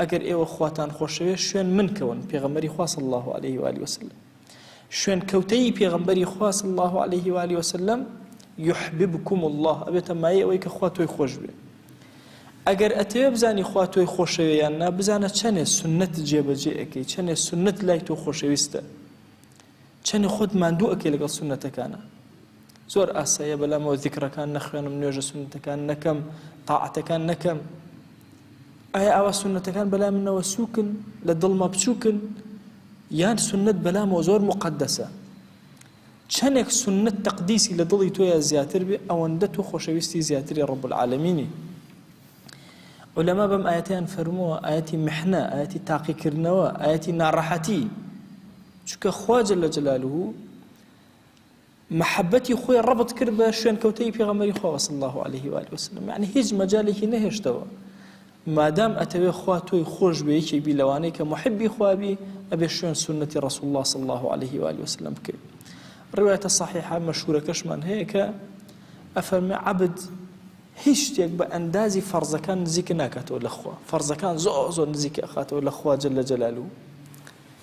ئەگەر ئێوە خواتان خۆشەوێت شوێن من کەون پێغەمبەری خوا صلی اللە علیه و آله وسلم شوێن کەوتەی پێغەمبەری خوا صلی اللە علیه و آله وسلم یحببکم اللە ئەبێتە مایە ئەوەی کە خوا تۆی خۆش بێ ئەگەر ئەتەوێ بزانی خوا تۆی خۆشەوێ یان نا بزانە چەنێ سنت جێبەجێ ئەەکەی چەنێ سنت لای تۆ خۆشەویستە چەنێ خۆت ماندوو ئەکەی لەگەڵ سونەتەکانا زۆر ئاسایە بەلامەوە ذیکرەکان نەخوێنم نوێژە سونەتەکان نەکەم تاعەتەکان نەکەم ئایا ئاوا سنتەکان بەلای منەوە سوکن لە دڵمە بچووکن یان سنت بەلامەوە زۆر مقدسە چەندێک سنت تەقدیسی لە دڵی تۆیە زیاتر بێ ئەوەندە تۆ خۆشەویستی زیاتری ڕب العالمینی علەما بەم ئاەتیان فەرمووە ئاەتی محنە ئاەتی تاقیکردنەوە ئاەتی ناڕەحەتی چونکە خوا جل جلالە مەحەبەتی خۆی ڕەبت کرد بە شوێنکەوتەی پێغەمبەری خوا صلی الله علیه و آله وسلم یعنی هیچ مەجالێکی نەهێشتەوە مادام ئەتەوێ خوا تۆی خۆش بێ یەکێک بی لەوانەی کە محبی خوابی ئەبێ شوێن سنەتی ڕسول الله صلی الله عليه و آله وسلم بکەی ڕوایەتە صحیحە مەشهورەکەشمان هەیە کە ئەفەرمە عبد هیچ شتێک بە ئەندازی فەرزەکان نزیکە ناکاتەوە لەخوا فەرزەکان زۆر زۆر نزیکە ئەخاتەوە لەخوا جل لە جەلال و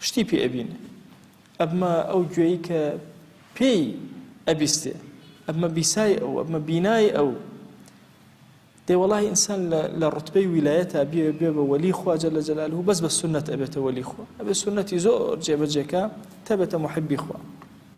شتی پێ ئەبینێ ئەبمە ئەو گوێی کە پێی ئەبیستێ ئەبمە بیسای ئەو ئەبمە بینای ئەو دێ وەڵی ئینسان لە ڕتبەی ویلایەتە بێ بێ بە وەلی خواجە لە جەلال و بەس بە سنت ئەبێتە وەلی خۆ ئەبێ سنەتی زۆر جێبەجێکە تەبێتە محبی خۆ